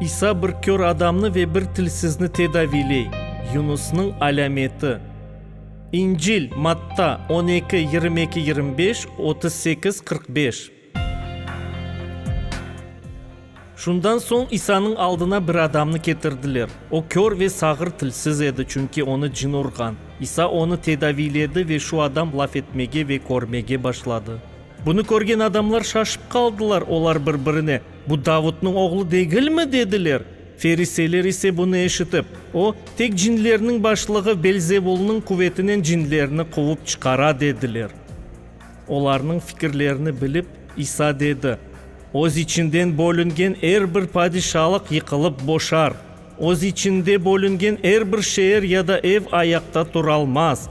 İsa bir kör adamnı ve bir tilsizni tedaviyley. Yunusnıñ alâmeti. İncil, Matta, on eki, yirmi eki, yirmi beş, otuz sekiz, qırq beş. Şundan soñ İsanıñ aldına bir adamnı ketirdiler. O kör ve sağır tilsiz edi, çünki onı cin urğan. İsa onı tedaviyledi ve şu adam laf etmege ve körmege başladı. Bunı körgen adamlar şaşıp qaldılar, olar bir-birine, Bu Davudnıñ oğlu degilmi? dediler. Feriseyler ise bunı eşitip, O, tek cinlerniñ başlığı Belzevulnıñ quvetinen cinlerni quvıp çıqara, dediler. Olarnıñ fikirlerini bilip, İsa dedi, Öz içinden bölüngen er bir padişalıq yıqılıp boşar, öz içinde bölüngen er bir şeer ya da ev ayaqta turalmaz.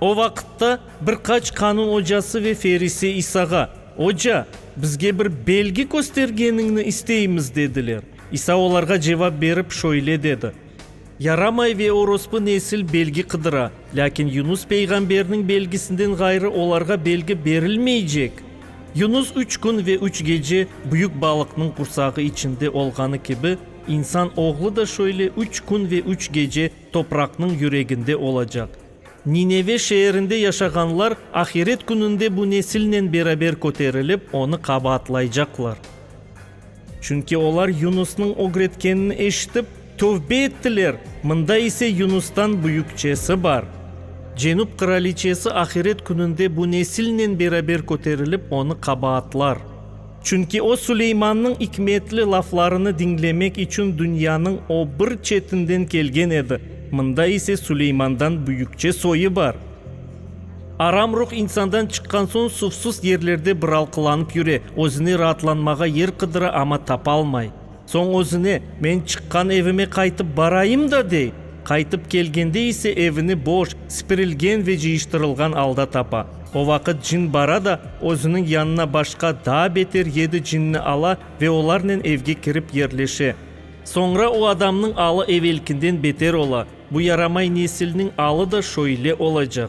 O vaqıtta bir qaç qanun ocası ve ferise İsağa, Oca, bizge bir belgi köstergeniñni isteymiz, dediler. İsa olarğa cevap berip, şöyle dedi, Yaramay ve orospu nesil belgi qıdıra, lâkin Yunus peyğamberniñ belgisinden ğayrı olarğa belgi berilmeycek. Yunus üç kün ve üç gece büyük balıqnıñ qursağı içinde olğanı kibi, İnsan Oğlu da şöyle üç kün ve üç gece topraqnıñ yüreginde olacaq. Nineve şeerinde yaşağanlar ahiret kününde bu nesilnen beraber köterilip, onı qabaatlaycaqlar. Çünki olar Yunusnıñ ögretkenini eşitip, tövbe ettiler, mında ise Yunustan büyükçesi bar. Cenüp qıraliçesi ahiret kününde bu nesilnen beraber köterilip, onı qabaatlar. Çünki o Suleymannıñ ikmetli laflarını diñlemek içün dünyanıñ o bir çetinden kelgen edi, mında ise Suleymandan büyükçe soyı bar. Aram ruh insandan çıqqan soñ suvsuz yerlerde biralqılanıp yüre, özüne raatlanmağa yer qıdıra, amma tapalmay. Soñ özüne, Men çıqqan evime qaytıp barayım da, dey. Qaytıp kelgende ise evini boş, sipirilgen ve cıyıştırılğan alda tapa. O vaqıt cin bara da, özüniñ yanına başqa daa beter yedi cinni ala ve olarnen evge kirip yerleşe. Soñra o adamnıñ alı evelkinden beter ola. Bu yaramay nesilniñ alı da şöyle olacaq.